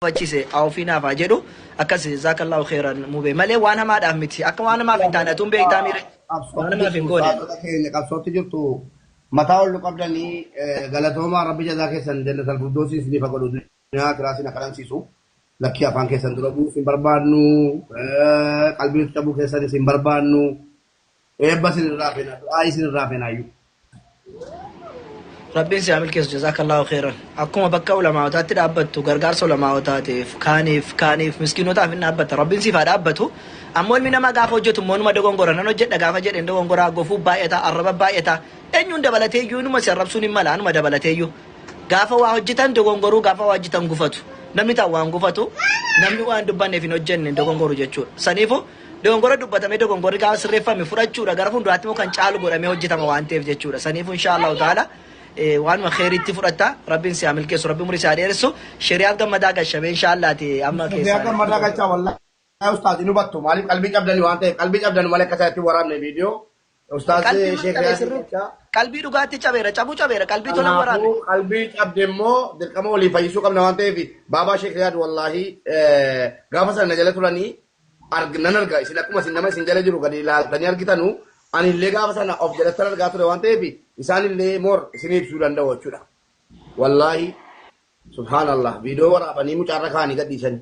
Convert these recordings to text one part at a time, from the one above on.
gafachise haa ofii naaf haa jedhu akkas jazaakallaahu khairan mube malee waan hamaadhaaf miti akka waan hamaaf hin taane atuun beektaa miire waan hamaaf hin goone Saadota keenya qabsootti jirtu mataa ol nu qabdanii galatoomaa rabbi jazaa keessan jannatal firdoosii isiniif haa godhu duniyaa akiraa isin haa qanansiisu lakkii afaan keessan dura bu'uu isin barbaadnu qalbii cabuu keessan isin barbaadnu Eebba isin irraa feena du'aa'ii isin irraa feena hayyuu. Rabbiin si haa milkeessu jazaakallaahu kheyran. Akkuma bakka ulamaa'otaatti dhaabbattu gargaarsa ulamaa'otaatiif kaaniif kaaniif miskiinotaaf hin dhaabbatta. Rabbiin siif haa dhaabbatu. Ammoo ilmi namaa gaafa hojjetu immoo numa dogongora nan hojjedha gaafa jedhe hin dogongora gofuu baay'ata arraba baay'ata eenyuun dabalatee iyyuu inuma si arrabsuun hin mala anuma dabalatee iyyuu. Gaafa waa hojjetan dogongoruu gaafa waa hojjetan gufatu. Namni tan waan gufatu namni waan dubbanneef hin hojjenne hin dogongoru jechuudha. Saniifu Dogongora dubbatame dogongorri gaafa sirreeffame fudhachuudha gara fuulduraatti immoo kan caalu godhamee hojjetama waan ta'eef jechuudha. Saniifuu inshaa Allahu ta'ala waanuma kheyriitti fudhatta rabbiin si haa milkeessu rabbi umurii si haa dheeressu sheriyaaf gammadaa gashamee inshaa Allaati amma Sheriyaaf keessaa. gammadaa galchaa wallaahi ustaaz hin hubattu maaliif qalbii cabdanii waan ta'eef qalbii cabdanu malee akka isaatti waraabne viidiyoo Ustaaz Qalbii Sheek maccabee Riyaadii sirriitti. jecha Qalbii dhugaatti cabeera. Cabuu cabeera. Qalbii tola hin waraanne. kanaafuu qalbii cabde immoo dirqama walii fayyisuu qabna waan ta'eef baabaa Sheek Riyaad wallaahi eh, gaafa sana na jala turanii arg- nan arga isin akkuma isin nama isin jala jiru gadi ilaaltanii argitanu ani illee gaafa sana of jalattan argaa ture waan ta'eef isaan illee moor isin ibsuu danda'u jechuudha. Wallaahi subhaanallah viidiyoo waraabanii mucaarra kaanii gadhiisanii.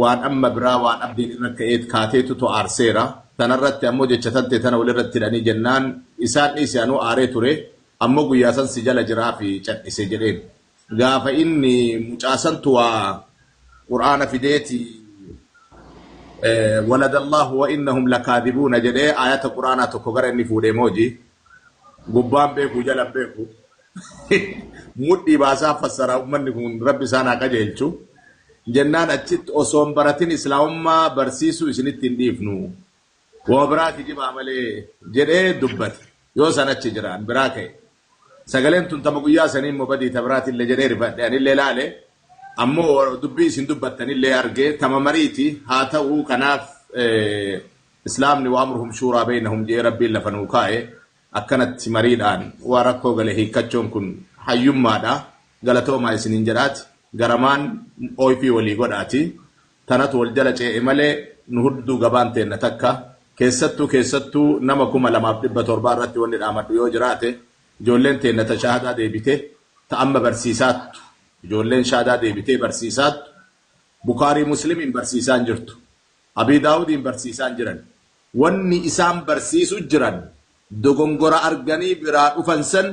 waan amma biraa waan abdiin irra ka'eet kaateetu to aarseera. Tanarratti ammoo jecha tantee tana walirratti hidhanii jennaan isaan dhiisi anuu aaree ture ammoo guyyaa san si jala jiraafi cadhise jedheen. Gaafa inni mucaa santu waa qur'aana fideeti waladallaahu wa innahum lakaadhibuuna jedhee aayata qur'aanaa tokko gara inni fuudhee mooji gubbaan beeku jalan beeku. mudhii baasaa fassaraa ummanni kun rabbi isaan haa qajeelchu jennaan achitti osoo hin baratin islaamummaa barsiisuu isinitti hin dhiifnu wama biraa kijibaa malee jedhee dubbate yoo san achi jira an biraa ka'e sagaleen tun tama guyyaa sanii immoo badii ta biraatillee jedhee rifadhe anillee laale ammoo dubbii isin dubbattanillee argee tama mariiti haa ta'uu kanaaf islaamni waamruhum shuuraa beeynahum jee rabbiin lafa nuu kaa'e Akkanatti mariidhaan waan rakkoo gale hiikkachuun kun hayyummaadha. Galatoomaa isiniin jedhaati garamaan oifii walii godhaati. Tanatu wal jala cee'e malee nu hudduu gabaan teenna takka. Keessattuu keessattuu nama 2700 irratti wanni dhaamadhu yoo jiraate ijoolleen teenna ta shahaadaa deebite ta amma barsiisaattu ijoolleen shaadaa deebitee barsiisaattu Bukhaarii Muslimiin barsiisaan jirtu. Abii Daawudiin barsiisaan jiran. Wanni isaan barsiisu jiran dogongora arganii biraa dhufan san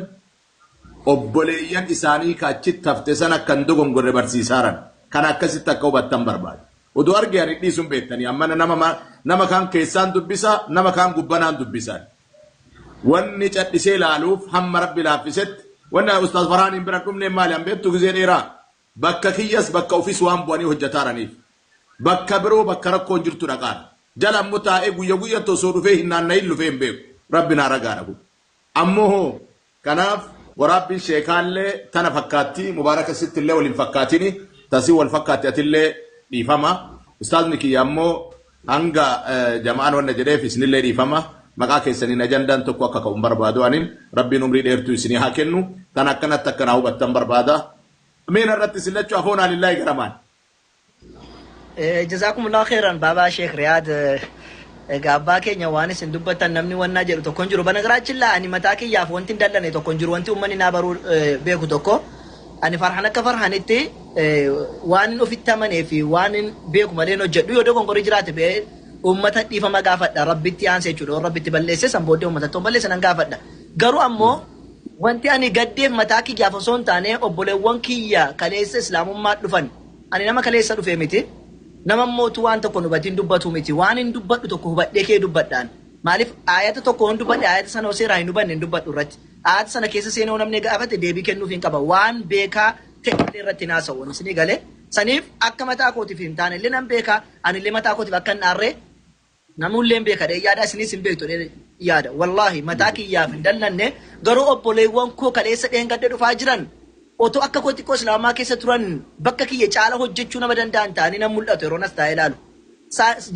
obboleeyyan isaanii ka achitti hafte san akka hin dogongorre barsiisaaran. Kana akkasitti akka hubattan barbaada. Odoo arge ani hin dhiisu hin beettanii ammana nama nama kaan keessaan dubbisa nama kaan gubbanaan dubbisa ani. Wanni cadhisee laaluuf hamma Rabbi laaffisetti wanni ustaaz Farhaaniin bira hin dhumneef maali an beettu gizee dheeraa Bakka kiyyas bakka ofiis waan bu'anii hojjataaraniif bakka biroo bakka rakkoon jirtu dhaqaan jala ammo taa'ee guyya guyyatti osoo dhufee hin naanna'in lufee hin beeku. Rabbi naa ragaadha kun. Ammo hoo? Kanaaf waraabbiin sheekaallee tana fakkaatti mubaaraka sittillee wal hin fakkaatini ta si wal fakkaatti atillee dhiifama ustaazni kiyya ammo hanga jama'aan wanna jedheef isinillee dhiifama maqaa keessaniin ajandaan tokko akka ka'u hin barbaadu anin rabbiin umrii dheertuu isinii haa kennu tana akkanatti akka naa hubattan barbaada Ameen har'atti isin lachuu afoonaa lillaahi garamaan. Jazaakumullaahu kheyran baabaa sheek riyaad egaa abbaa keenya waan isin dubbattan namni wannaa jedhu tokko hin jiru banagaraachillaa ani mataa kiyyaaf wanti hin dallane tokko hin jiru wanti ummanni naa baruu beeku tokko ani farhan akka farhanitti waan hin ofitti amanee fi waan hin beeku malee hin hojjedhu yoo dogongorii jiraate bee ummata dhiifama gaafadha rabbitti aanse jechuudha yoo rabbitti balleesse san booddee ummata tokko balleesse nan gaafadha garuu ammoo Wanti ani gaddeef mataa kiyyaaf osoo hin taane obboleewwan kiyya kaleessa Islaamummaatti dhufan. Ani nama kaleessa dhufe miti. Nama immoo utuu waan tokko hin hubatiin dubbatu miti. Waanin dubbadhu tokko hubadhee ka'ee dubbadha ani. Maaliif aayata tokko yoon dubbadhe aayata sana yoo seeraa hin hubanne hin dubbadhu irratti. Aayata sana keessa seenee yoo namni gaafate deebii kennuufiin qaba. Waan beekaa ta'e malee irratti hin haasa'u ani. Isinii galee? Saniif akka mataa kootiif hin taane illee nan beeka. Ani illee mataa kootiif akka hin aarre. Namuulleen beeka jedheen yaada isiniis hin beektu jedheen yaada wallaahi mataa kiyyaaf hin dallanne garuu obboleewwan koo kaleessa dheengadda dhufaa jiran otoo akka koo xiqqoo islaamummaa keessa turan bakka kiyya caala hojjechuu nama danda'an ta'anii nan mul'atu yeroon as taa'ee ilaalu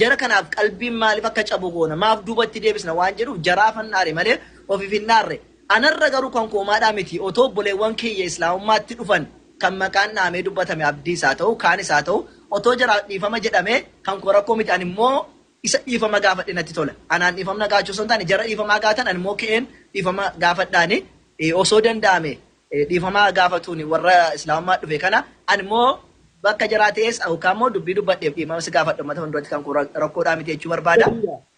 jara kanaaf qalbiin maaliif akka cabu goona maaf duubatti deebisna waan jedhuuf jaraafan dhaare malee ofiif hin dhaarre anarra garuu kan koomaadhaa miti otoo obboleewwan kiyya islaamummaatti dhufan kan maqaan dhahamee dubbatame Abdiis haa ta'u kaanis haa ta'u otoo jaraaf dhiifama jedhamee kan koo rakkoo miti animmoo isa dhiifama gaafadhe natti tola. Anaan dhiifamna gaachuu osoo hin taane jara dhiifamaa gaatan animmoo ka'een dhiifama gaafadhaani osoo danda'ame dhiifama haa gaafatuuni warra islaamummaatti dhufe kana animmoo bakka jaraa ta'ees yookaan immoo dubbii dubbadheef dhiifama si gaafadha ummata fuulduratti kan koo rakkoodhaa miti jechuu barbaada.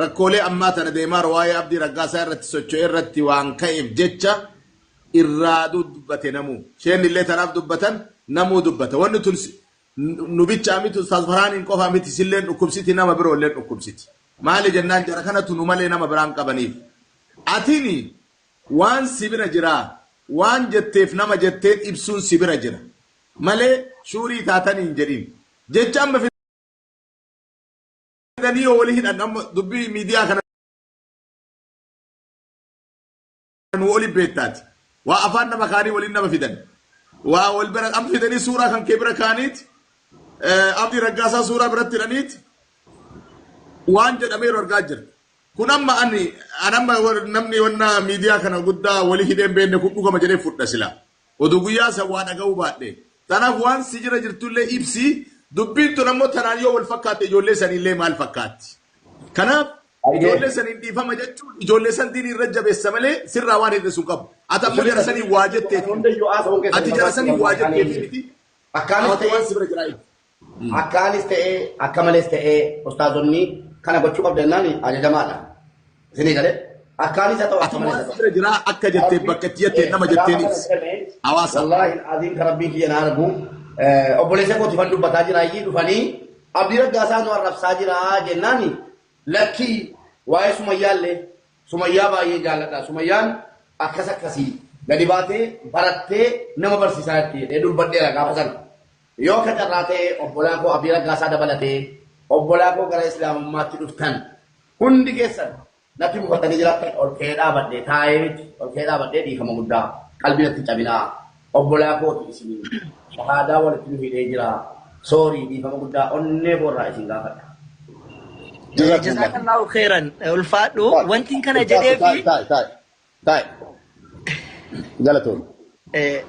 Rakkoolee ammaa tana Deemaar waa'ee Abdii Raggaasaa irratti socho'e irratti waan ka'eef jecha irraa dubbate namuu. Sheenni illee tanaaf dubbatan namuu dubbata. Wanni tun nu bichaa miti Ustaaz Farhaaniin qofaa miti isilleen dhukkubsiti nama biroo illeen dhukkubsiti. Maali jennaan jara kanatu nu malee nama biraa hin qabaniif. Atini waan si bira jiraa waan jetteef nama jetteen ibsuun si bira jira malee shuurii taatanii hin jedhin. Jecha amma arganii yoo wali hidhan amma dubbii miidiyaa kana nu oli beektaati. Waa afaan nama kaanii waliin nama fidan. Waa wal bira amma fidanii suuraa kan kee bira kaaniiti. Abdii Raggaasaa suuraa biratti hidhaniiti. Waan jedhameeru argaa jirra. Kun amma ani anamma namni wanna miidiyaa kana guddaa wali hidheen beenne kun dhugama jedhee fudha silaa. Oduu guyyaa san waa dhaga'uu baadhe. Tanaaf waan si jira jirtullee ibsi, dubbiin tun ammoo tanaan yoo wal fakkaatte ijoollee saniillee maal fakkaatti? Kanaaf ijoollee saniin dhiifama jechuun ijoollee san diinii irra jabeessa malee sirraa waan hir'isu hin qabu. Ati ammoo jara saniin waa jetteefi miti. Ati jara saniin waa jetteefi miti. Ati waan si bira jiraa ibsi. Akkaanis ta'ee akka malees ta'ee ustaazonni kana gochuu qabda jennaan ajajamaadha. Isinii galee akkaanis haa ta'u akka malees haa ta'u. Bira jiraa akka jettee bakka itti jettee nama jetteen ibsi. Hawaasa. Wallaahi aziim kan rabbiin kiyya na argu obboleessa kooti fan dubbataa jira iyyii dhufanii abdii raggaasaa nu arrabsaa jira jennaan lakkii waa'ee sumayyaallee sumayyaa baay'ee jaalladha sumayyaan akkas akkasii gadi baatee barattee nama barsiisaa jirti jedhee dubbadheera gaafa sana. Yoo akka carraa ta'e obbolaa koo Abii Raggaasaa dabalatee obbolaa koo gara Islaamummaatti dhuftan hundi keessan natti mufatanii jiraattan ol ka'ee dhaabadhe taa'ee miti ol ka'ee dhaabadhee dhiifama guddaa qalbii natti hin cabinaa obbolaa kooti isiniin shahaadaa walitti nu hidhee jira soorii dhiifama guddaa onnee koorraa isin gaafadha. Jazakumullah. Jazakallahu khairan ulfaadhu Taa'e. wantiin kana Taa'e, jedhee taa'e, fi taa'e, taa'e. Taa'e. Galatoon. Eh,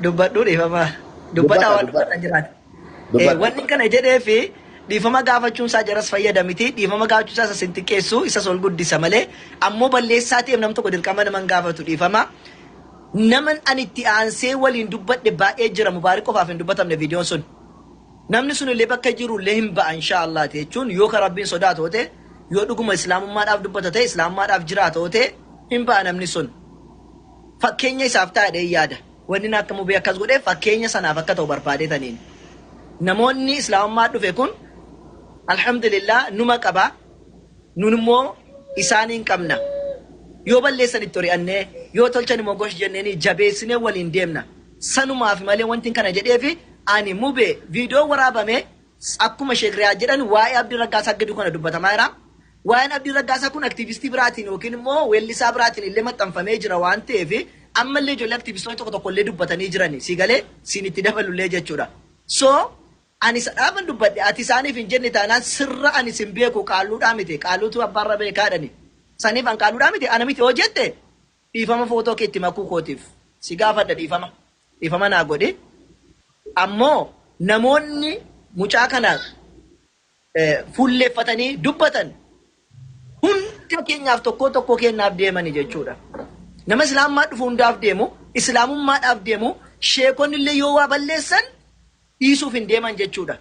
dubbadhu dhiifama dubbataa waan dubbatan jiraata. Eh, wanni kana jedhee fi dhiifama gaafachuun isaa jaras fayyada miti dhiifama gaafachuu isaa isa sin xiqqeessu isas ol guddisa malee ammoo balleessaa ta'eef nam tokko dirqama naman gaafatu dhiifama. Naman ani itti aansee waliin dubbadhe baay'ee jira mubaarik qofaaf hin dubbatamne viidiyoon sun. Namni sunillee bakka jirullee hin ba'a inshaa Allaah ti jechuun yoo ka Rabbiin sodaatu yoo ta'e, yoo dhuguma Islaamummaadhaaf dubbata ta'e, Islaamummaadhaaf jiraata yoo ta'e hin ba'a namni sun. Fakkeenya isaaf ta'a jedheen yaada. Wanni inni akka mubee akkas godheef fakkeenya sanaaf akka ta'u barbaadeetaniin. Namoonni Islaamummaa dhufe kun Alhamdulillaah numa qaba, nun immoo isaaniin qabna. Yoo balleessan itti ori'annee, yoo tolchan immoo gosh jenneenii jabeessinee waliin deemna. Sanumaafi malee wantin kana jedheefi ani mube video waraabame akkuma sheek riyaad jedhan waa'ee abdi raggaasaa gidu kana dubbatamaa jira waa'een abdii raggaasaa kun aktiivistii biraatiin yookiin immoo weellisaa biraatiin illee maxxanfamee jira waan ta'eef amma illee ijoollee aktiivistoota tokko tokko illee dubbatanii jirani sii galee siin itti dabalu illee jechuudha so ani sadhaafan dubbadhe ati isaaniif hin jenne taanaan sirra ani sin beeku qaalluudhaa miti qaalluutu abbaarra beekaadhani saniif an qaalluudhaa miti ana miti hoo jette Dhiifama photo kee itti makuu kootiif si gaafadha dhiifama dhiifama naa godhi ammoo namoonni mucaa kana fuulleeffatanii dubbatan hunda keenyaaf tokkoo tokkoo keenyaaf deemani jechuudha nama islaamummaa dhufu hundaaf deemu islaamummaadhaaf deemu sheekonni illee yoo waa balleessan dhiisuuf hin deeman jechuudha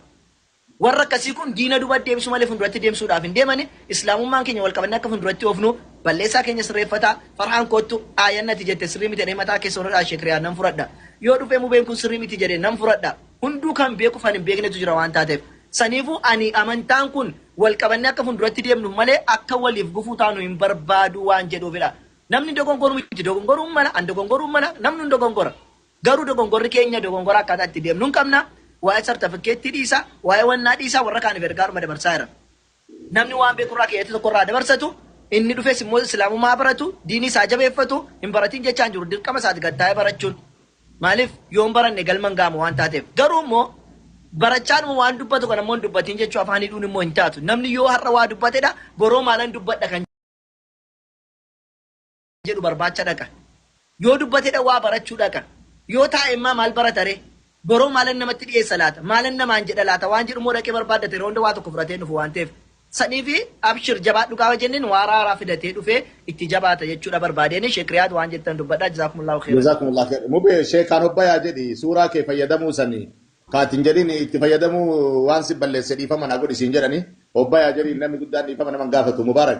Warra akkasii kun diina duba deebisuu malee funduratti deemsuudhaaf hin deemani, Islaamummaan keenya wal qabannee akka funduratti oofnu, balleessaa keenya sirreeffata, Farhaan koottu Aayan ati jette sirrii miti jedhee mataa keessa ol hidhaa Sheek Riyaad nan fudhadha. Yoo dhufee Mubeen kun sirrii miti jedhe nan fudhadha. Hunduu kan beekuuf kan hin beeknetu jira waan taateef. Saniifuu ani amantaan kun wal qabannee akka funduratti deemnuuf malee akka waliif gufuu taanu hin barbaadu waan jedhuufidha. Namni dogongoruu miti dogongoruun mala, an dogongoruu mala, namnuu hin dogongora. Garuu dogongorri keenya dogongora akkaataa itti deemnu hin qabna. Waa'ee sartafikkeettii dhiisaa, waa'ee wannaa dhiisaa warra kaaniif ergaadhuma dabarsaa jiran. Namni waan beeku irraa keeyyata tokko irraa dabarsatu, inni dhufes immoo Islaamummaa haa baratu, diinii isaa jabeeffatu, hin baratiin jechaa hin jiru. Dirqama isaati gad taa'ee barachuun. Maaliif yoo hin baranne galma hin ga'amu waan taateef. Garuu immoo barachaadhuma waan dubbatu kana immoo hin dubbatiin jechuu afaan hidhuun immoo hin taatu. Namni yoo har'a waa dubbatedha boroo maalan dubbadha kan. jedhu barbaacha dhaqa. Yoo dubbatedha waa barachuu dhaqa. Yoo taa'e immaa maal barata ree? Boroo maalan namatti dhiyeessa laata? Maalan namaan jedha laata? Waan jedhu immoo dhaqee barbaaddata yeroo hunda waa tokko fudhatee hin dhufu waan ta'eef. Saniifi abshir jabaadhu gaafa jenneen waa raaraa fidatee dhufee itti jabaata jechuudha barbaadeeni Sheek Riyaad waan jettan dubbadhaa jazaakumullahu khairan. Jazakumullah khair. Mube sheekaan obbayaa jedhi suuraa kee fayyadamuu sani kaatin jedhin itti fayyadamuu waan si balleesse dhiifama naa godhi siin jedhani obbayaa jedhi namni guddaan dhiifama naman gaafatu mubaarak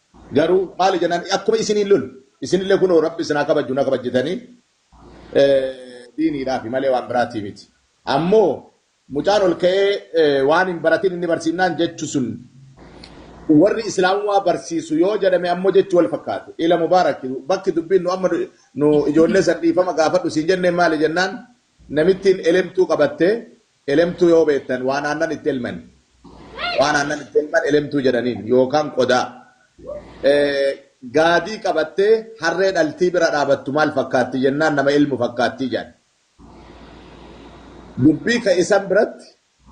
Garuu maali jennaan akkuma isiniin lolu isinillee kunoo Rabbi isin haa kabajju na kabajjitanii diiniidhaafi malee waan biraatii miti. Ammoo mucaan ol ka'ee waan hin baratin inni barsiifnaan jechu sun warri islaamummaa barsiisu yoo jedhame ammoo jechu wal fakkaatu. Ila Mubaarak bakki dubbiin nu amma nu ijoollee san dhiifama gaafadhu siin jenneen maali jennaan namittiin elemtuu qabattee Elemtuu yoo beektan waan aannan itti elman waan aannan itti elman elemtuu jedhaniin yookaan qodaa gaadii qabattee harree dhaltii bira dhaabattu maal fakkaatti jennaan nama elmu fakkaatti jedhan. Dubbii ka isan biratti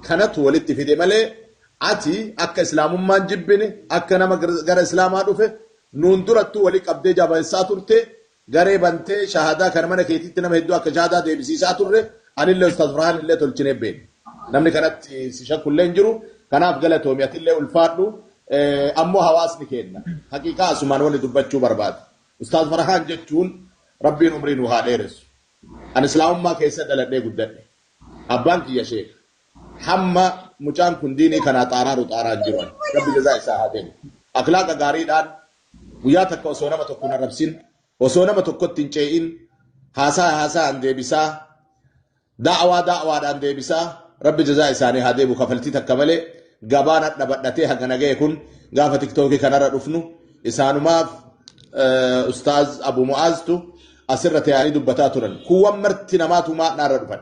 kanatu walitti fide malee ati akka islaamummaan jibbine akka nama gara islaamaa dhufe nuun durattuu wali qabdee jabeessaa turte garee bantee shahadaa kana mana keetiitti nama hedduu akka shahadaa deebisiisaa turre anillee ustaaz farhaan illee tolchinee beekna namni kanatti si shakku illee hin jiru kanaaf galatoomi atillee ulfaadhu ammoo hawaasni keenna haqiiqaa asumaan wani dubbachuu barbaada ustaaz farhaan jechuun rabbiin umrii nuu haa dheeressu an islaamummaa keessa dhaladhee guddadhe abbaan kiyya sheeka hamma mucaan kun diinii kanaa xaaraaru xaaraan jiru ani rabbi jazaa isaa haa kennu akhlaaqa gaariidhaan Guyyaa takka osoo nama tokko hin arrabsin, osoo nama tokkotti hin cee'in, haasaa haasaan deebisaa, da'awaa da'awaadhaan deebisaa, Rabbi jazaa isaanii haa deebi'u kafaltii takka malee gabaan hadha badhatee hagana ga'e kun gaafa tiktookii kanarra dhufnu isaanumaaf Ustaaz Abu Mu'aaztu asirra taa'anii dubbataa turan. Kuuwwan marti namaatu maadhaarra dhufan.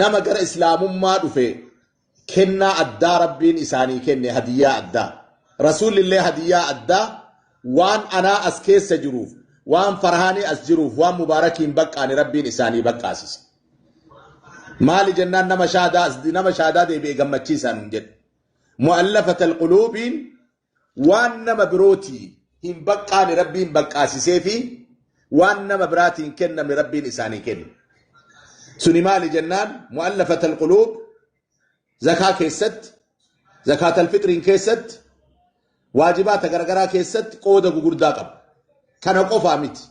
nama gara islaamummaa dhufe kennaa addaa rabbiin isaanii kenne hadiyyaa addaa rasuulillee hadiyyaa addaa waan anaa as keessa jiruuf waan farhaanii as jiruuf waan mubaarakiin baqqaani rabbiin isaanii baqqaasise maali jennaan nama shaadaa as- nama shaadaa deebi'e gammachiisaan jedhe mu'allafata alquluubiin Waan nama birootii hin baqqaane Rabbiin baqqaasisee fi waan nama biraatii hin kennamne Rabbiin isaanii kenne. Suni maali jennaan mu'allafatal quluub zakaa keessatti, zakaatal fixriin keessatti, waajibaata garagaraa keessatti qooda gugurdaa qabu. Kana qofaa miti.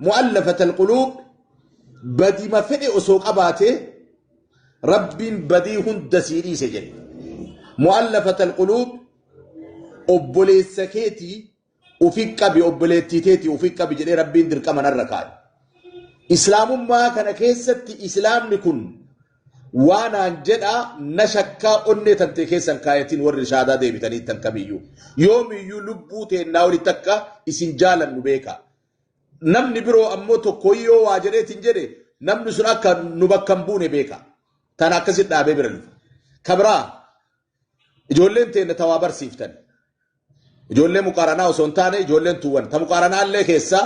Mu'allafatal quluub badima fedhe osoo qabaatee Rabbiin badii hunda sii dhiise jedhe. Mu'allafatal quluub obboleessa keetii ufi qabi obboleettii teetii ufi qabi jedhee rabbiin dirqama narra kaa'e. Islaamummaa kana keessatti islaamni kun waanaan jedhaa na shakkaa onnee tantee keessan kaayatiin warri shaadaa deebitanii tan kamiyyuu yoomiyyuu lubbuu teennaa walitti akka isin jaalannu beekaa. Namni biroo ammoo tokko yoo waa jedheetiin jedhe namni sun akka nu bakka hin buune beekaa. Tan akkasitti dhaabee bira dhufa. Kabraa Ijoolleen teenna tawaa barsiiftan. Ijoollee muqaaranaa osoo hin taane ijoolleen tuuwwan. Ta muqaaranaa illee keessaa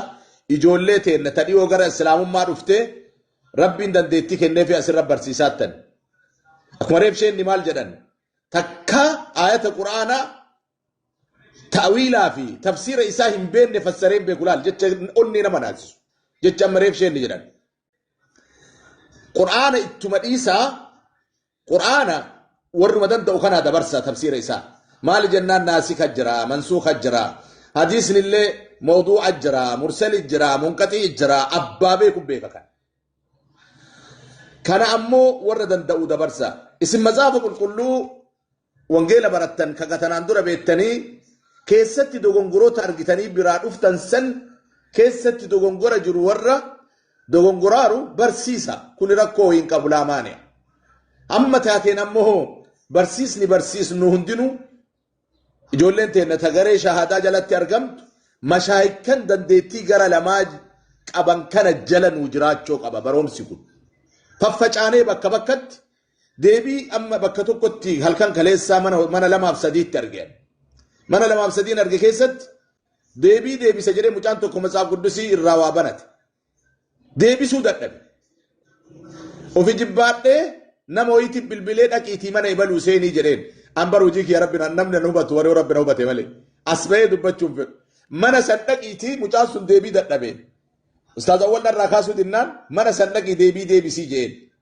ijoollee teenna ta dhiyoo gara islaamummaa dhuftee rabbiin dandeettii kennee fi asirra barsiisaattan. Akkuma reebsheenni maal jedhan takka aayata quraanaa ta'wiilaa fi tafsiira isaa hin beekne fassaree hin beeku laal jecha onnee nama naasisu. Jecha amma reebsheenni jedhan Qur'aana ittuma dhiisaa Qur'aana warruma danda'u kanaa dabarsa tafsiira isaa. Maali jennaan naasika jira, mansuuka jira, hadiisni illee mawduu'a jira, mursali jira, munqaxii jira, abbaa beeku beeka kan. Kana ammoo warra danda'u dabarsa. Isin mazaafa qulqulluu Wangeela barattan kan tanaan dura beettanii keessatti dogongoroota argitanii biraa dhuftan san keessatti dogongora jiru warra dogongoraaru barsiisa kuni rakkoo hin qabu laamaani'a. Amma taateen ammoo barsiisni barsiisnu hundinuu ijoolleen teenna tagaree shahaadaa jalatti argamtu mashaayikkan dandeettii gara lamaa qaban kana jala nuu jiraachoo qaba baroomsi kun. Faffacaanee bakka bakkatti Deebii amma bakka tokkotti halkan kaleessaa mana mana lamaaf sadiitti arge. Mana lamaaf sadiin arge keessatti deebii deebisa jedhee mucaan tokko matsaaf guddisii irraa waa banate. Deebisuu dadhabe. Ofi jibbaadhee nama ho'iitti bilbilee dhaqiitii mana ibaluu seenii jedheen. An bar hojii kiyya rabbi na- namni na hubatu warri rabbi na hubate malee. As ba'ee dubbachuun fedhu. Mana san dhaqiitii mucaan sun deebii dadhabee. Ustaaz Awwal dharraa kaasuu dinnaan mana san dhaqii deebii deebisii jedheen.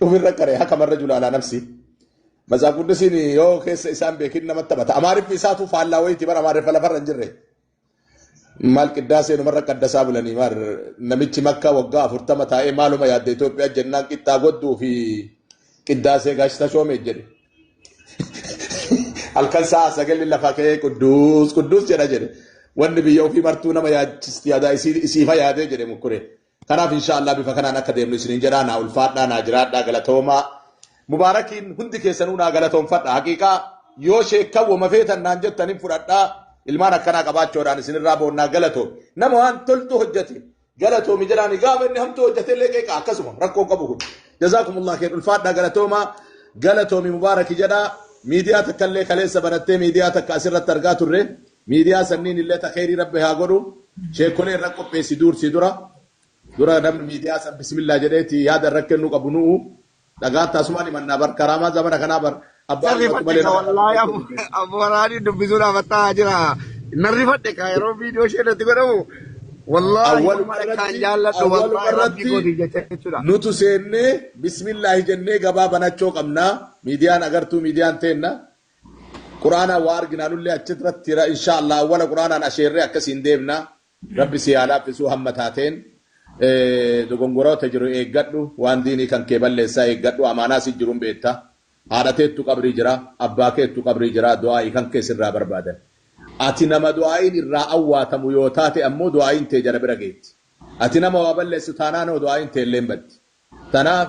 Dhumirra qaree hakamarra julaalaa nafsi. Mazaaf guddisiin yoo keessa isaan beekin namatti taphata. Amaariffi isaatu faallaa wayiiti bara amaariffa lafarra hin jirre. Maal qiddaa seenumarra qaddasaa bulanii maal namichi makka waggaa afurtama taa'ee maaluma yaadda Itoophiyaa jennaan qixxaa godduu fi qiddaasee gaashita shoomee jedhe. halkan sa'a sagalli lafa ka'ee qudduus qudduus jedha jedhe wanni biyya ofii martuu nama yaachisti yaadaa isiifa yaadee jedhe mukkure kanaaf inshaallah bifa kanaan akka deemnu isiniin jedhaa naa ulfaadhaa naa jiraadhaa galatoomaa mubaarakiin hundi keessanuu naa galatoomfadha haqiiqaa yoo sheekkan wama feetan naan jettan hin fudhadhaa ilmaan akkanaa qabaachoodhaan isinirraa boonnaa galatoom nama waan toltu hojjete galatoomi jedhaani gaafa inni hamtuu hojjate illee qeeqa akkasuma rakkoo qabu kun jazaakumullah keen ulfaadhaa galatoomaa galatoomi mubaaraki jedhaa miidiyaa takka illee kaleessa banattee miidiyaa takka asirratti argaa turre miidiyaa sanniin illee takheerii rabbi haa godhu sheekolee irra qopheessi duursi dura dura namni miidiyaa san bismillaa jedheeti yaada irra kennuu qabu nu'u Dhagaan tasumaa dhimannaa bar karaamaa zamana kanaa bar abbaa Nan ilmatu rifadhe malee ka nama wallaahi ilaaluu abu jechuun hin abu waraanii dubbisuudhaaf attaa jira. Nan rifadhe ka yeroo viidiyoo ishee irratti godhamu wallaahi awwaluma ummata akkaan irratti jaalladhu awwaluma wallaahi rabbii irratti kootiif jecha jechuudha. nutu seennee bismillaahi jennee gabaa banachoo qabnaa miidiyaan agartuu miidiyaan teenna quraanaan waa arginaanullee achirratti ra inshaa Allah awwala quraanaan asheerree akkasiin deemna Rabbi sii haa laaffisuu hamma taateen dogongoroota jiru eeggadhu waan diinii kan kee balleessa eeggadhu amaanaa si jiru hin beetta haadha teettu qabrii jira abbaa keettu qabrii jira du'aayi kan kee sirraa barbaadan ati nama du'aayin irraa awwaatamu yoo taate ammoo du'aayin tee jara bira geetti ati nama waa balleessu taanaan hoo du'aayin teelleen baddi tanaaf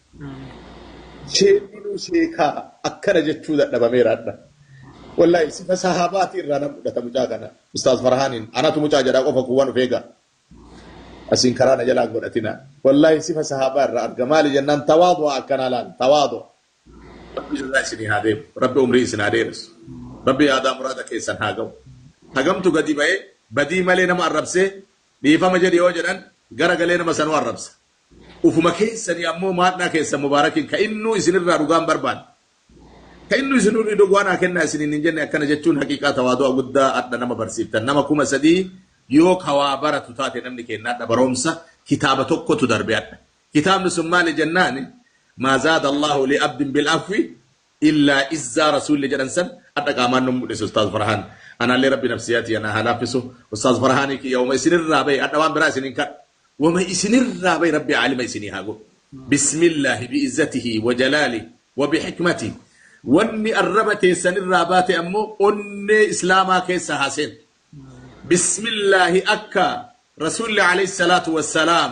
Sheekni sheekaa akkana jechuu dadhabameera adda. Wallaahi sifa sahaabaatii irraa nan fudhata mucaa kana. Ustaaz Farhaaniin anatu mucaa jedhaa qofa kuwwan of eegaa. Asiin karaa na jalaa godhatina. Wallaahi sifa sahaabaa irraa arga maali jennaan tawaadu'a akkanaa laal tawaadu'a. Rabbi irraa isinii haa deemu. Rabbi umrii isin haa dheeressu. Rabbi yaadaa muraada keessan haa ga'u. Hagamtu gadi ba'ee badii malee nama arrabsee dhiifama jedhi yoo jedhan gara galee nama sanuu arrabsa. Ufuma keessanii ammoo maadhaa keessan mubaarakiin ka innuu isin irraa dhugaan barbaanne, ka innuu isin irrii dogwaa naa kennaa isiniin hin jenne akkana jechuun haqiiqaa tawaadu'a guddaa hadha nama barsiiftan nama kuma sadii yoo ka waa baratu taate namni keenna hadha baroomsa kitaaba tokkotu darbe hadha kitaabni sun maali jennaani maa zaada allaahu li abdin bil afwi illaa izzaa rasuulli jedhan san adha qaamaan nu mudhise ustaaz farhaan anaallee rabbi nafsiyaa tiyya naa haa laaffisu ustaaz farhaani kiyya wama isinirraa bahe adha waan biraa isin hin kadhu wama isinirraa bahe rabbi aalima isinii haa godhu bismillaahi bi izzatihi wa jalaali wa bi hikmati wanni arraba teessanirraa baate ammoo onnee islaamaa keessa haa seentu bismillaahi akka rasuulli alayhi salaatu wassalaam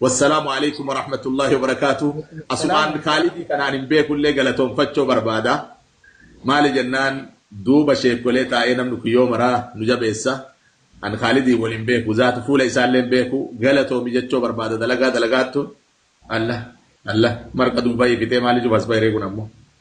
Wassalamu Aleykum Warahmatullahi Wabarakatuh Asumaan Kaalidii kanaan hin beeku illee galatoomfachoo barbaada maali jennaan duuba sheekkolee taa'ee namni kun yoo maraa nu jabeessa an Kaalidiin wal hin beeku zaata fuula isaa illee hin beeku galatoomi jechoo barbaada dalagaa dalagaattu Alla Alla marqa duubayii fixee maali cufa as bahiree kun ammoo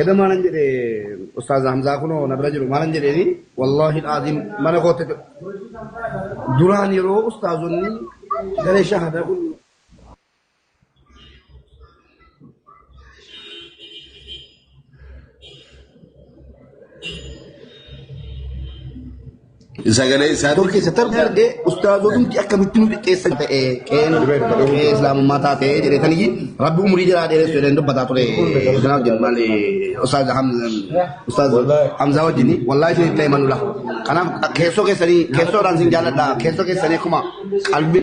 Eda maalan jedhe Ustaaz Hamzaa kunoo na bira jiru maalan jedheeni wallaahi aziim mana kootti duraan yeroo ustaazonni garee shahadaa kun Sagalee isaa Doktor keessa tar darbee ustaazotumti akkamitti nu xiqqeessan ta'e qeen qee islaamummaa taate jedhetanii rabbi umurii jiraa dheeressu jedhanii dubbataa ture ustaaz wajjin maali ustaaz Hamza ustaaz Hamza wajjin wallaahi isin itti himanula kanaaf keessoo keessanii keessoodhaan isin jaalladha keessoo keessanii akkuma qalbii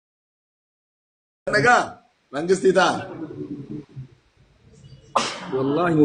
Nagaa mangistii ta'a. Wallaahi